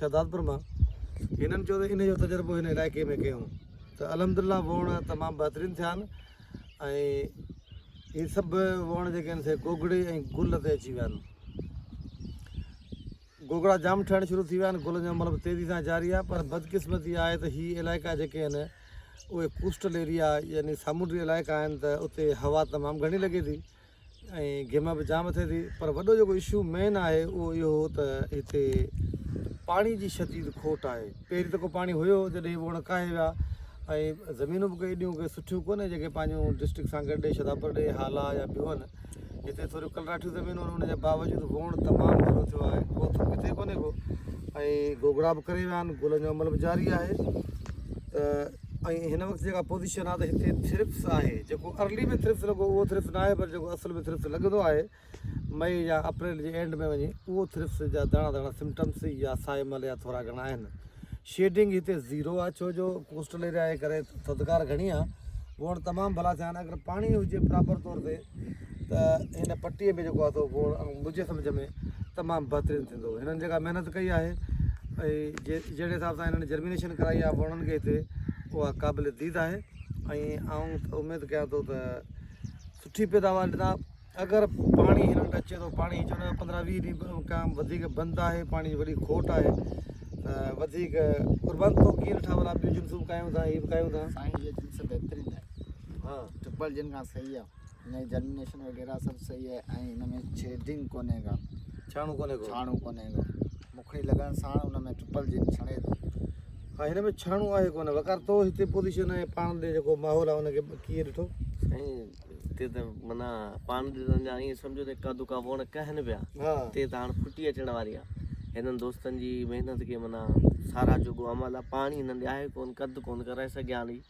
شهدادپور مان هنن چيو ته ان جو تجربو هن علائقي ۾ ڪيون ته الحمدلله ووڻ تمام بهترين ٿيا آهن ۽ هي سڀ ووڻ جيڪي آهن سي گوگڙي ۽ گل تي اچي ويا آهن گوگڙا جام ٺهڻ شروع ٿي ويا آهن گلن جو عمل به تيزي سان جاري آهي پر بدقسمتي آهي ته هي علائقا جيڪي آهن اهي ڪوسٽل ايريا يعني سامونڊي علائقا آهن ته اتي هوا تمام گهڻي لڳي ٿي ۽ گيما به جام ٿئي ٿي پر وڏو جيڪو اشو مين آهي اهو اهو هو ته هتي پاڻي جي شديد کوٽ آهي پهرين ته ڪو پاڻي هيو جڏهن هو اڻکاهي ويا ۽ زمينون به ڪي ايڏيون ڪي سٺيون ڪونهي جيڪي پنهنجون ڊسٽرڪٽ سان گڏ ڏي شداپور ڏي هالا يا ٻيون آهن هتي ٿوريون ڪلراٺيون زمينون آهن ان جي باوجود ووڻ تمام گهڻو ٿيو آهي ڪو ٿو ڪٿي ڪونهي ڪو ۽ گوگڙا به ڪري ويا آهن گلن جو عمل به جاري آهي ته ۽ هن وقت جيڪا پوزيشن آهي ته هتي ٿرپس آهي جيڪو ارلي ۾ ٿرپس لڳو اهو ٿرپس نه آهي پر جيڪو اصل ۾ ٿرپس لڳندو آهي مئي يا اپريل جي اينڊ ۾ وڃي اهو ٿرپس جا داڻا داڻا سمٽمس يا سائي مل يا ٿورا گهڻا آهن شيڊنگ هتي زيرو آهي ڇو جو ڪوسٽل ايريا جي ڪري ٿڌڪار گهڻي آهي وڻ تمام ڀلا ٿيا آهن اگر پاڻي هجي پراپر طور تي ته هن پٽي ۾ جيڪو آتو گوڙ منهنجي سمجهه ۾ تمام بهترين ٿيندو هنن جيڪا محنت ڪئي آهي ۽ جي جهڙي حساب سان هنن جرمينيشن ڪرائي آهي وڻن کي هتي اها قابل ديد آهي ۽ آئون اميد ڪيان ٿو ته سٺي پيداوار ڏنا اگر پاڻي هنن وٽ اچي ٿو پاڻي چون ٿا پندرهن ويهه ڏينهن کان وڌيڪ بند آهي پاڻي جي وڏي کوٽ آهي ته وڌيڪ قربان تو ڪير ٺاهه ولا ٻيون جنسون ڪايون ٿا هي به ڪايون ٿا سائين جي جنس بهترين آهي ها ٽرپل جن کان صحيح آ ان جي جرمينيشن وغيره سڀ صحيح آهي ۽ ان ۾ شيڊنگ ڪونهي ڪا ڇاڻو ڪونهي ڪو ڇاڻو ڪونهي ڪو مکڙي لڳڻ سان ان ۾ ٽرپل جن ڇڻي ٿو ها هن ۾ ڇاڻو آهي ڪونهي وقار تو هتي پوزيشن آهي پاڻ ڏي جيڪو ماحول آهي ان کي ڪيئن ڏٺو سائين هتي ته منا پاڻ ڏي سمجھا ائين سمجھو ته ڪا دڪا ووڻ ڪهن پيا هتي ته هاڻ ڦٽي اچڻ واري آ هنن دوستن جي محنت کي منا سارا جوڳو عمل آ پاڻي هنن ڏي آهي ڪون ڪڌ ڪون ڪرائي سگهيا ڏي